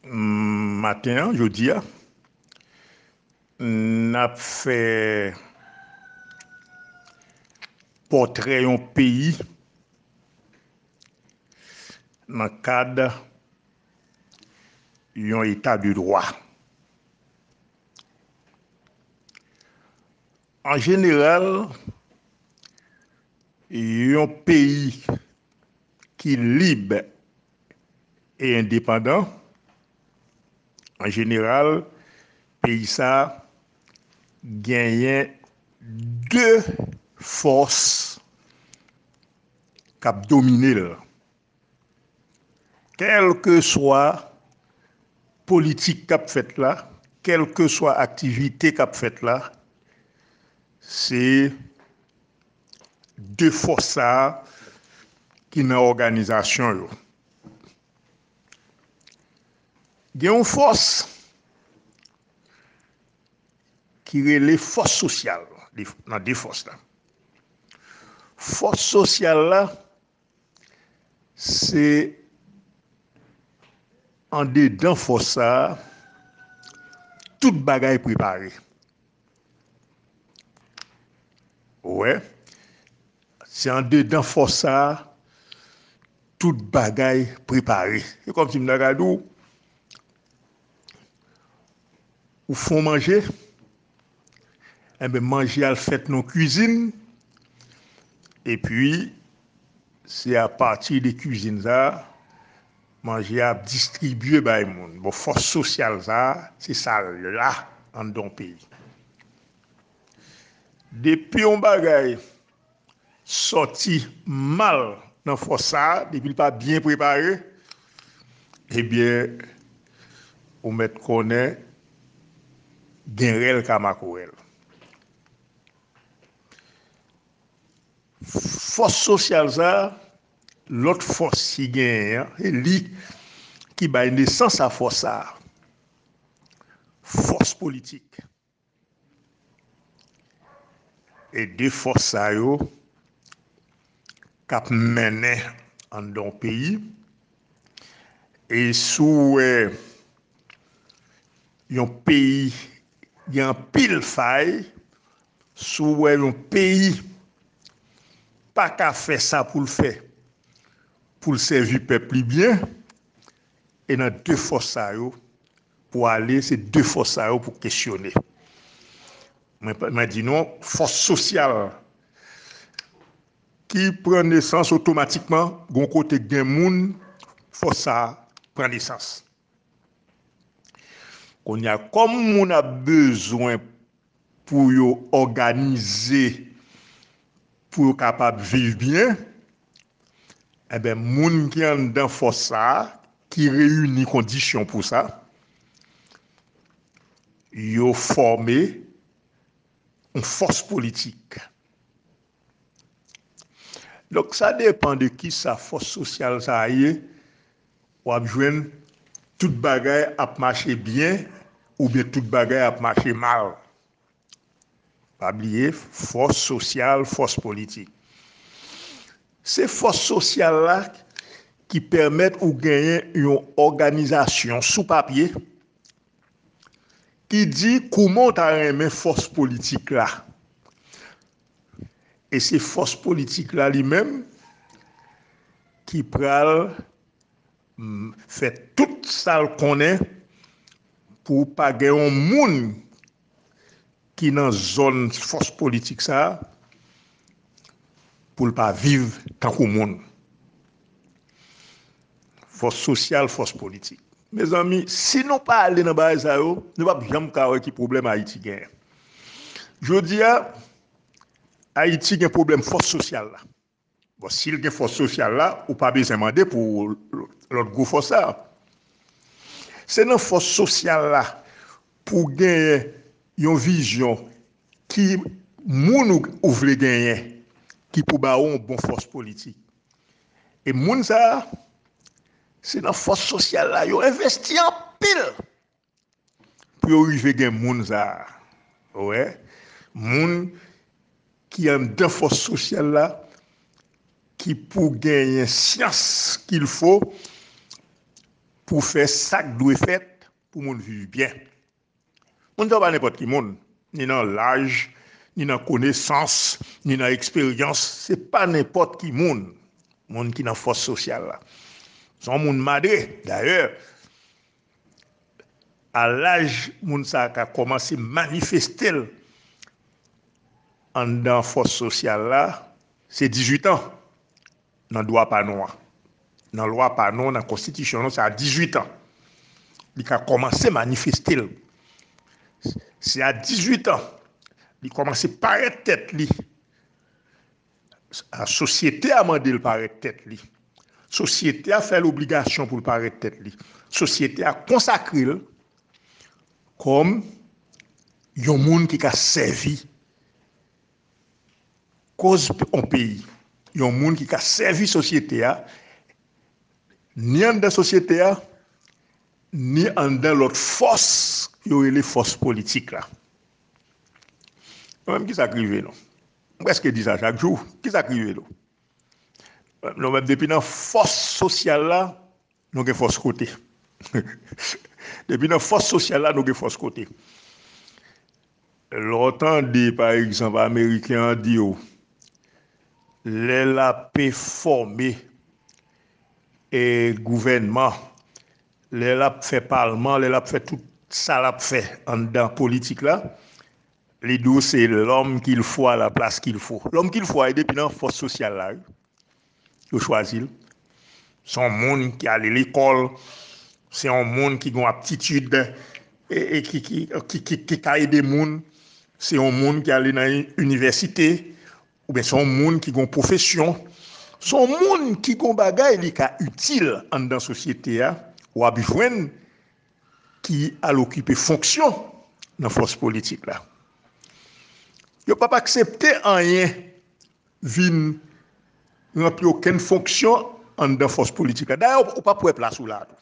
Maten an jodi a n ap fè pòtrè yon peyi nan kad yon eta de dwa. An jeneral yon peyi ki lib e endepandan, an jeneral, peyi sa a genyen de fòs k ap domine l, kèlkeswa politik k ap fèt la, kèlkeswa aktivite k ap fèt la, se 2 fòs sa a ki nan òganizasyon yo. Gen yon fòs ki rele fòs sosyal nan 2 fòs la. Fòs sosyal la se andedan fòs sa a tout bagay prepare. Ou wè, se andedan fòs sa a tout bagay prepare. Se kòm si m ta ka di w, ou fon manje, enben manje a al fèt nan kuizin, epi se apati de kuizin sa a, Manje a ap distribye bay moun. Bon fòs sosyal sa a, se sa l la anndan yon peyi. Depi yon bagay sòti mal nan fòs sa a, depi l pa byen prepare, ebyen ou mèt konnen gen rèl ka makorèl. Fòs sosyal sa a, Lòt fòs ki genyen an, se li ki bay nesans a fòs sa a. Fòs politik. E de fòs sa yo k ap mennen anndan yon peyi. E si w wè yon peyi. Gen anpil fay, si w wè yon peyi pa ka fè sa pou l fè pou l sèvi pèp li byen, e nan 2 fòs sa yo pou ale, se 2 fòs sa yo pou kesyone. Mwen di nou, fòs sosyal ki pran nesans otomatikman gon kote gen moun fòs sa pran nesans. Konnya kòm moun ap bezwen pou yo òganize pou yo kapab viv byen, enben moun ki anndan fòs sa a ki reyini kondisyon pou sa, yo fòme yon fòs politik. Donk sa depan de kisa fòs sosyal sa a ye, Wap jwenn tout bagay ap mache byen oubyen tout bagay ap mache mal. Pa bliye fòs sosyal, fòs politik. Se fòs sosyal la ki pèmèt ou genyen yon òganizasyon sou papye ki di kouman ou ta renmen fòs politik la. E se fòs politik la li menm ki pral fè tout sa l konnen pou pa gen yon moun ki nan zòn fòs politik sa a pou l pa viv tankou moun. Fòs sosyal, fòs politik. Mezanmi, si nou pa ale nan bagay sa yo, nou p ap janm ka wè ki pwoblèm Ayiti genyen. Jodi a, Ayiti gen pwoblèm fòs sosyal la. Bon, si l gen fòs sosyal la, ou pa bezwen mande pou lòt gwo fòs sa a. Se nan fòs sosyal la pou w genyen yon vizyon ki moun ou vle genyen ki pou ba ou yon bon fòs politik. E moun sa a, se nan fòs sosyal la yo envesti anpil pou yo rive gen moun sa a. Ou wè, moun ki anndan fòs sosyal la ki pou genyen syans kil fo pou fè sa k dwe fèt pou moun viv byen. Moun sa yo pa nenpòt ki moun, ni nan laj, ni nan konesans, ni nan eksperyans, se pa nenpòt ki moun, moun ki nan fòs sosyal la. Se yon moun madre, dayè, a laj moun sa a ka kòmanse manifeste l anndan fòs sosyal la, se 18 an, Nan dwa pa nou an. Nan lwa pa nou, nan konstitisyon nou, se a 18 an li ka kòmanse manifeste l. Se a 18 an li kòmanse parèt tèt li. Sosyete a mande l parèt tèt li. Sosyete a fè l obligasyon pou l parèt tèt li. Sosyete a konsakre l kòm yon moun ki ka sèvi Koz pou yon peyi, yon moun ki ka sèvi sosyete a, ni anndan sosyete a, ni anndan lòt fòs yo rele fòs politik la. Nou menm ki sa k rive nou? M prèske di sa chak jou. Ki sa k rive nou? Nou menm depi nan fòs sosyal la, Nou gen fòs kote. Depi nan fòs sosyal la nou gen fòs kote. Lè w tande pa egzanp ameriken an di w lè lape fòme e gouvènman, lè l ap fè palman, lè l ap fè tout sa l ap fè anndan politik la, li di w se lòm kilfo a la plas kilfo. Lòm kilfo a e depi nan fòs sosyal la wi. Yo chwazi l. Se yon moun ki ale lekòl, se yon moun ki gen yon aptitid e ki ka ede moun, se yon moun ki ale nan inivèsite oubyen se yon moun ki gen yon pwofesyon, se yon moun ki gen yon bagay li ka itil anndan sosyete a, w ap jwenn ki al okipe fonksyon nan fòs politik la. Yo p ap aksepte anyen. vin ranpli okenn fonksyon anndan fòs politik la. Dayè ou pap wè plas ou la a tou.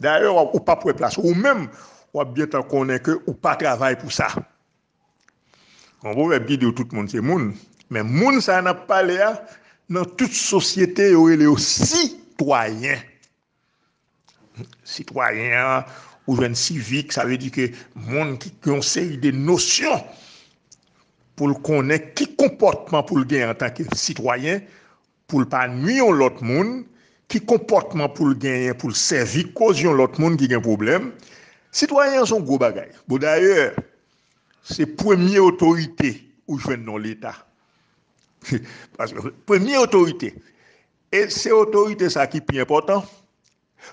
Dayè ou pap wè plas ou. Ou menm w ap gentan konnen ke ou pa travay pou sa. Gon pwovèb ki di yo tout moun se moun. Men moun sa n ap pale a nan tout sosyete yo rele yo sitwayen. Sitwayen an, ou jwenn sivik, sa vle di ke moun ki gen yon seri de nosyon pou l konnen ki konpòtman pou l gen antanke sitwayen pou l pa nui yon lòt moun, ki konpòtman pou l genyen pou l sèvi koz yon lòt moun ki gen pwoblèm. Sitwayen an se yon gwo bagay. Bon dayè, se premye otorite ou jwenn nan leta. Paske premye otorite E se otorite sa ki pi enpòtan,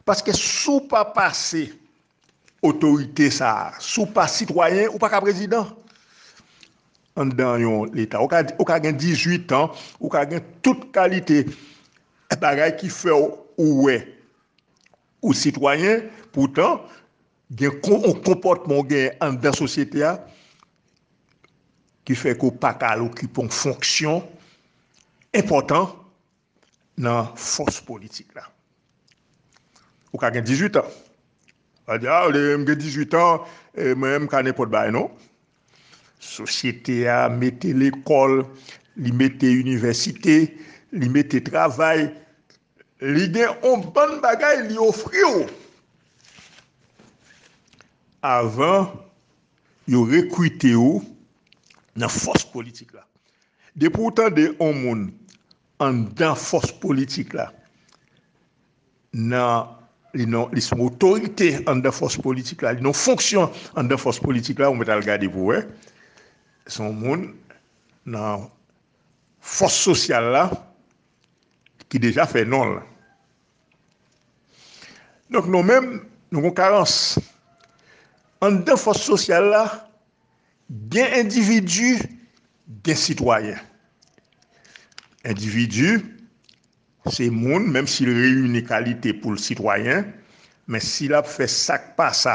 paske si w pa pase otorite sa, si w pa sitwayen, ou pa ka prezidan. Anndan yon leta, ou ka gen 18 an, ou ka gen tout kalite bagay ki fè w ou wè ou sitwayen, poutan, Gen yon konpòtman ou genyen anndan sosyete a ki fè ke w pa ka al okipe yon fonksyon enpòtan nan fòs politik la. Ou ka gen 18 an, w a di a, m gen 18 an, mwen menm m ka nenpòt bagay. Non. Sosyete a mete lekòl, li mete inivèsite, li mete travay, li gen yon bann bagay li ofri w avan yo rekrite w nan fòs politik la. Depi w tande yon moun anndan fòs politik la nan li non li son otorite anndan fòs politik la li non fonksyon anndan fòs politik la ou mèt al gade pou wè son moun nan fòs sosyal la ki deja fè non l donk nou menm nou gon karans anndan fòs sosyal la gen endividi gen sitwayen endividi Se moun, menm si l reyini kalite pou l sitwayen, men si l ap fè sa k pa sa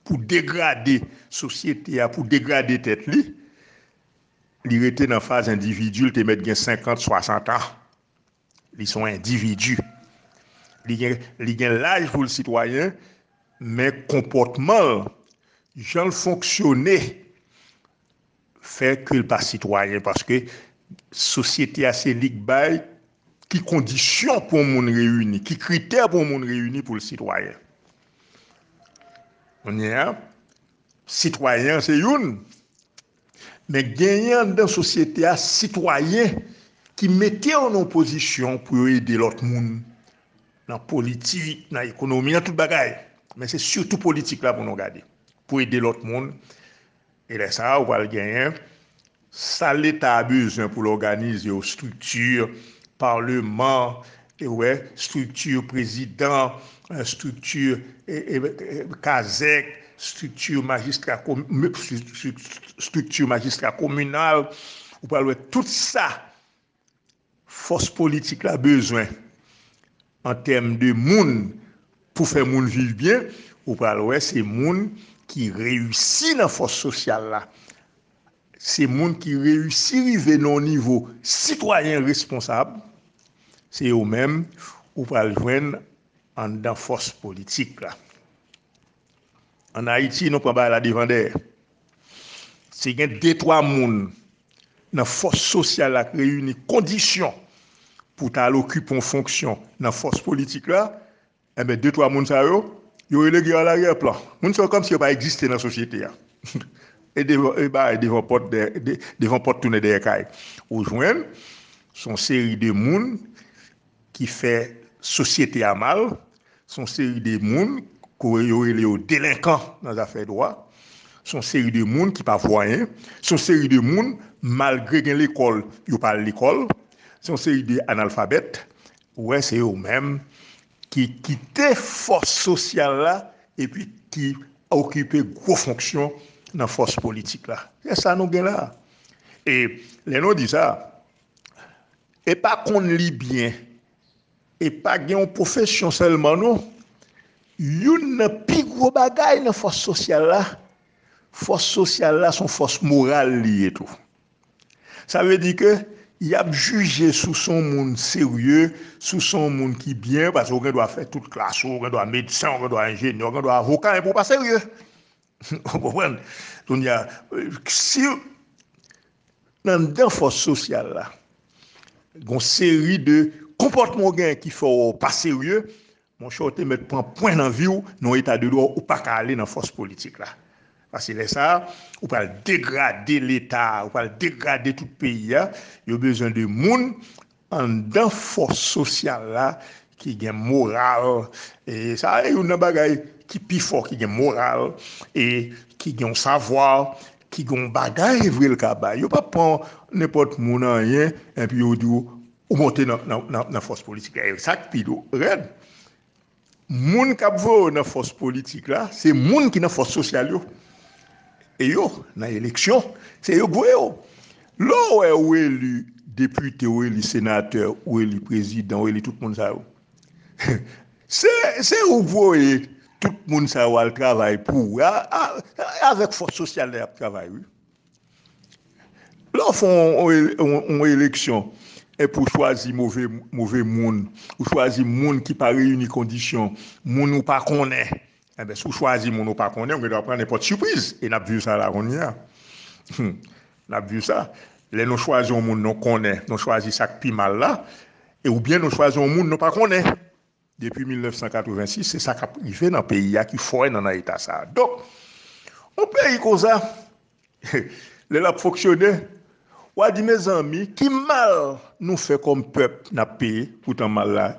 pou degrade sosyete a, pou degrade tèt li, li rete nan faz endividi, l te mèt gen senkant, swasant an. Li se yon endividi. Li gen laj pou l sitwayen, men konpòtman l, jan l fonksyone, Fè ke l pa sitwayen paske sosyete a se li k bay ki kondisyon pou yon moun reyini, ki kritè pou yon moun reyini pou l sitwayen. Kounye a, sitwayen an se youn, men genyen anndan sosyete a sitwayen ki mete yo nan yon pozisyon pou yo ede lòt moun nan politik, nan ekonomi, nan tout bagay. Men se sitou politik la pou nou gade, pou ede lòt moun E lè sa a ou pral genyen sal leta a bezwen pou l òganize yo strikti paleman ou wè strikti prezidan strikti kazèk strikti majistra strikti majistra kominal ou pral wè tout sa Fòs politik la bezwen an tèm de moun pou fè moun viv byen, ou pral wè se moun ki reyisi nan fòs sosyal la, se moun ki reyisi rive nan yon nivo sitwayen responsab, se yo menm ou pral jwenn anndan fòs politik la. An Ayiti nou pran bagay la devan dèyè. Si gen de twa moun nan fòs sosyal la k reyini kondisyon pou ta al okipe yon fonksyon nan fòs politik la, enben de twa moun sa yo, yo rele gen alarye plan. Moun sa yo kòmsi yo pa egziste nan sosyete a. E bagay devan pòt devan pòt tounen dèyè kay. Ou jwenn son seri de moun ki fè sosyete a mal, se yon seri de moun ke yo rele yo delenkan nan zafè dwa, se yon seri de moun ki pa vwayen, se yon seri de moun malgre gen lekòl yo pa al lekòl, se yon seri de analfabèt, ou wè se yo menm ki kite fòs sosyal la epi ki okipe gwo fonksyon nan fòs politik la. Se sa nou gen la. E lè nou di sa, E pa konn li byen. E pa gen yon pwofesyon sèlman non. Youn nan pi gwo bagay nan fòs sosyal la, fòs sosyal la son fòs moral li ye tou. Sa vle di ke y ap jije si w se yon moun serye, si w se yon moun ki byen, paske ou gen dwa fè tout klas ou, ou gen dwa medsen, ou gen dwa enjenyè, ou gen dwa avoka, enpi ou pa serye. Ou konprann? Kounye a, si anndan fòs sosyal la, gon seri de konpòtman ou genyen ki fè ou pa serye, monchè ou te mèt pran pwen nan vi ou, nan yon eta de dwa ou pa ka ale nan fòs politik la. Paske lè sa a, ou pral degrade leta a, ou pral degrade tout peyi a, yo bezwen de moun Anndan fòs sosyal la ki gen moral, e sa a youn nan bagay ki pi fò ki gen moral e ki gen yon savwa, ki gen yon bagay vre l ka bay. Yo pap pran nenpòt moun anyen enpi yo di w ou monte nan fòs politik la. E sa k pi rèd, Moun kap voye yo nan fòs politik la se moun ki nan fòs sosyal yo e yo nan eleksyon se yo k voye yo lè w wè ou eli depite ou eli senatè ou eli prezidan ou eli tout moun sa yo se ou k voye tout moun sa yo al travay pou ou e avèk fòs sosyal la yap travay wi. Lè w fè yon eleksyon epi w chwazi move moun, ou chwazi moun ki pa reyini kondisyon, moun ou pa konnen, si w chwazi moun ou pa konnen, ou gen dwa pran nenpòt sipriz, e n ap viv sa la kounye a, n ap viv sa, lè nou chwazi yon moun nou konnen, nou chwazi sa k pi mal la, oubyen nou chwazi yon moun nou pa konnen. Depi 1986 se sa kap rive nan peyi a ki foè nan nan eta sa. Donk yon peyi konsa lè lap fonksyone wa di mezanmi ki mal nou fè kòm pèp nap peye poutan mal la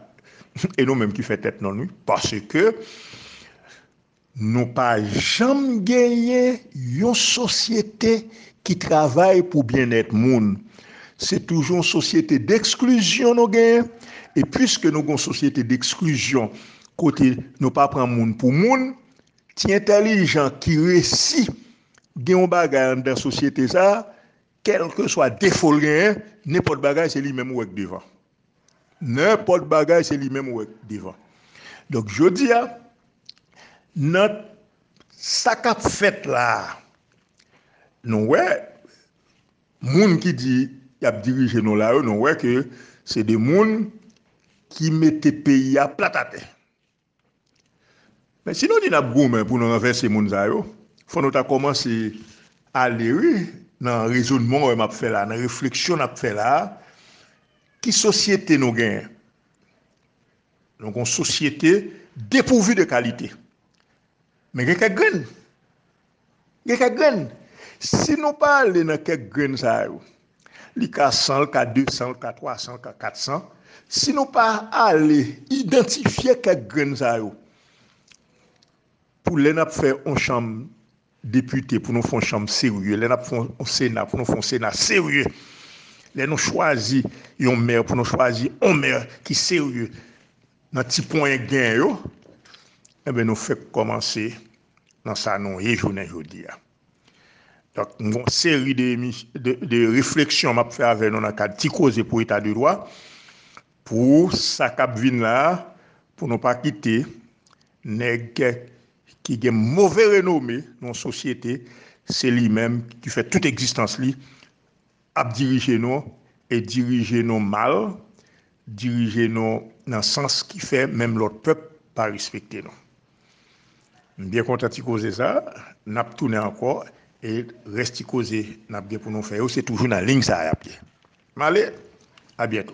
e nou menm ki fè tèt non wi paske Nou pa janm genyen yon sosyete ki travay pou byennèt moun. Se toujou yon sosyete deksklizyon nou genyen. E piske nou gen yon sosyete deksklizyon kote nou pa pran moun pou moun, ti entèlijan ki resi gen yon bagay anndan sosyete sa a, Kèlkeswa defo l genyen, nenpòt bagay se li menm ou wè k devan. Nenpòt bagay se li menm ou wè k devan. Donk jodi a, nan sa k ap fèt la a, nou wè moun ki di y ap dirije nou la yo, nou wè ke se de moun ki mete peyi a plat atè. Men si nou di nap goumen pou nou ranvèse moun sa yo, fò nou ta kòmanse ale wi nan rezonman wè map fè la, nan refleksyon nap fè la, ki sosyete nou genyen? Nou gon sosyete depouvi de kalite. Men gen kèk grenn Gen kèk grenn, si nou pa ale nan kèk grenn sa yo, li ka 100, li ka 200, li ka 300, li ka 400, si nou pa ale idantifye kèk grenn sa yo, pou lè n ap fè yon chanm depite, pou nou fè yon chanm serye, lè n ap fè yon sena, pou nou fè yon sena serye, lè nou chwazi yon mè, pou nou chwazi yon mè ki serye, nan ti ponyen grenn yo, enben nou fèk kòmanse nan sa nou ye jounen jodi a. Donk m gon seri de refleksyon m ap fè avè nou nan kad ti koze pou eta de dwa pou sa k ap vin la pou nou pa kite nèg ki gen move renome nan sosyete se li menm ki fè tout egzistans li Ap dirije nou, e dirije nou mal, dirije nou nan sans ki fè menm lòt pèp pa respekte nou. M byen kontan ti koze sa, n ap tounen ankò e rès ti koze n ap gen pou nou fè yo se toujou nan lign sa y ap ye. M ale, abyento.